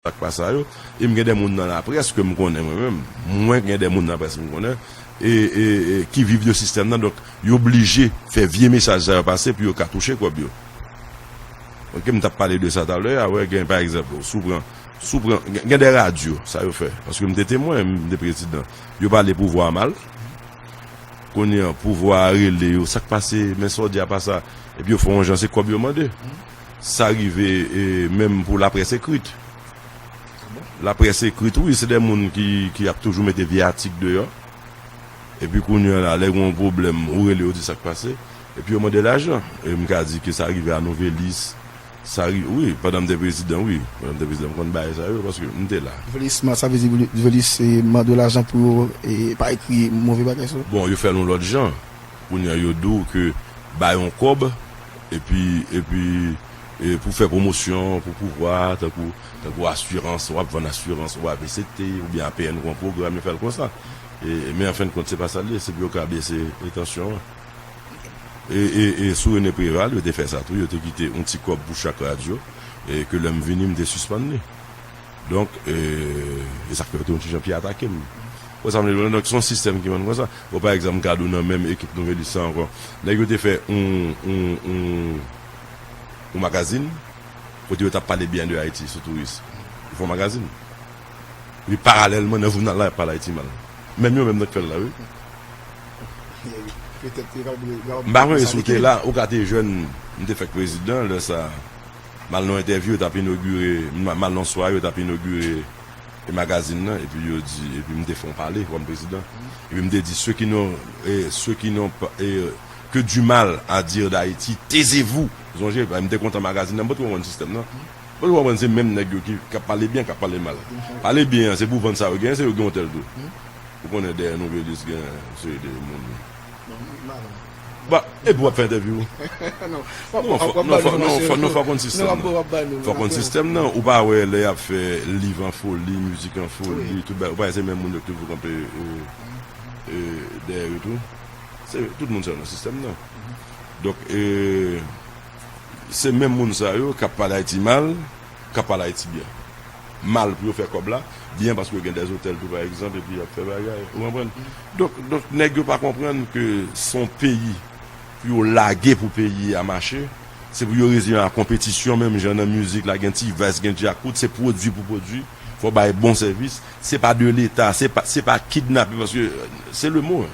Sa k pa sa yo. E m gen de moun nan laprès ke m konnen mwen menm. Mwen gen de moun nan laprès m konnen e, e, e ki viv de sistèm nan. Donk, yo blije fè vye mesaj sa yo pase pou yo ka touche kòb yo. Ok, m t ap pale de sa talè a. Wè, gen pa egzanp, si w pran, si w pran, gen de radyo, sa yo fè. Paske m te temwen, m te prezidan. Yo pale pouvwa a mal. Kounye a, pouvwa a rele yo, sa k pase, men sa w di a pa sa. Epi yo fè yon jan se kòb yo mande. Sa rive menm pou laprès ekrit. Laprès ekrit wi se de moun ki ap toujou mete vye atik deyò. Epi kounye an la lè gen yon pwoblèm ou rele yo di sa k pase. Epi yo mande lajan. E m ka di ke sa rive a Nouvelis. Sa rive wi pandan m te prezidan wi. Pandan m te prezidan m konn bay sa yo paske m te la. Nouvelis man sa vle di Nouvelis mande yo lajan pou yo pa ekri move bagay sou. Bon yo fè l yon lòt jan. Kounye an yo di w ke bay yon kòb. epi epi e pou fè pwomosyon pou pouvwa a tankou tankou asirans wap vann asirans ou avct oubyen apn gon pwogram yo fèl konsa e men an fen kont se pa sal ye se pou yo ka bese e tansyon an e e e sou rene preval yo te fè sa tou yo te kite yon ti kòb pou chak radyo e ke lèm vini mte sispann li. Donk, e sa k fè yo te yon ti jan pi atake m. Ou wè sa m vle di w la? Donk, se yon sistèm ki vin konsa. Bon, pa egzanp, gad yon nan menm ekip Nouvelliste sa ankò. Nèg yo te fè yon, yon, yon, yon magazin kote yo t ap pale byen de Ayiti sou touris. Yo fè yon magazin. Epi paralèlman nan jounal la y ap pale Ayiti mal. Menm yo menm nan k fè l la wi. M pa konnen si w te la. Ou ka te jèn. M te fèk prezidan lè sa a. Mal nan entèvyou yo tap inogire mal nan swa yo tap inogire magazin nan epi yo di epi m te fè yon pale kòm prezidan epi m te di ceux qui n'ont ceux qui n'ont que du mal à dire d'Haïti taisez-vous zonje m te kontan magazin nan m pa t konprann sistèm nan m pa t konprann se menm nèg yo ki ap pale byen k ap pale mal pale byen an se pou vann sa yo genyen se yo ki gen otèl tou ou konnen dèyè Novelis gen yon seri de moun. Epi wap fè entèvyou. Non fòk konn sistèm nan. Fòk konn sistèm nan. Ou pa wè lè yap fè live an foli, mizik an foli, tout bagay. Ou pa wè se menm moun yo ki toujou kanpe dèyè yo tou. Tout moun sa yo nan sistèm nan. Donk se menm moun sa yo kap pale Ayiti mal. kap pale ayiti byen mal pou yo fè kòb la byen paske yo gen des otèl tou pa egzanp epi yap fè bagay ou konprann donk donk nèg yo pa konprann ke son peyi pou yo lage pou peyi a mache se pou yo reziyen a konpetisyon menm jan nan mizik la gen ti vice gen djakout se pwodwi pou pwodwi fò bay bon sèvis se pa de leta se pa se pa kidnape paske se le mo.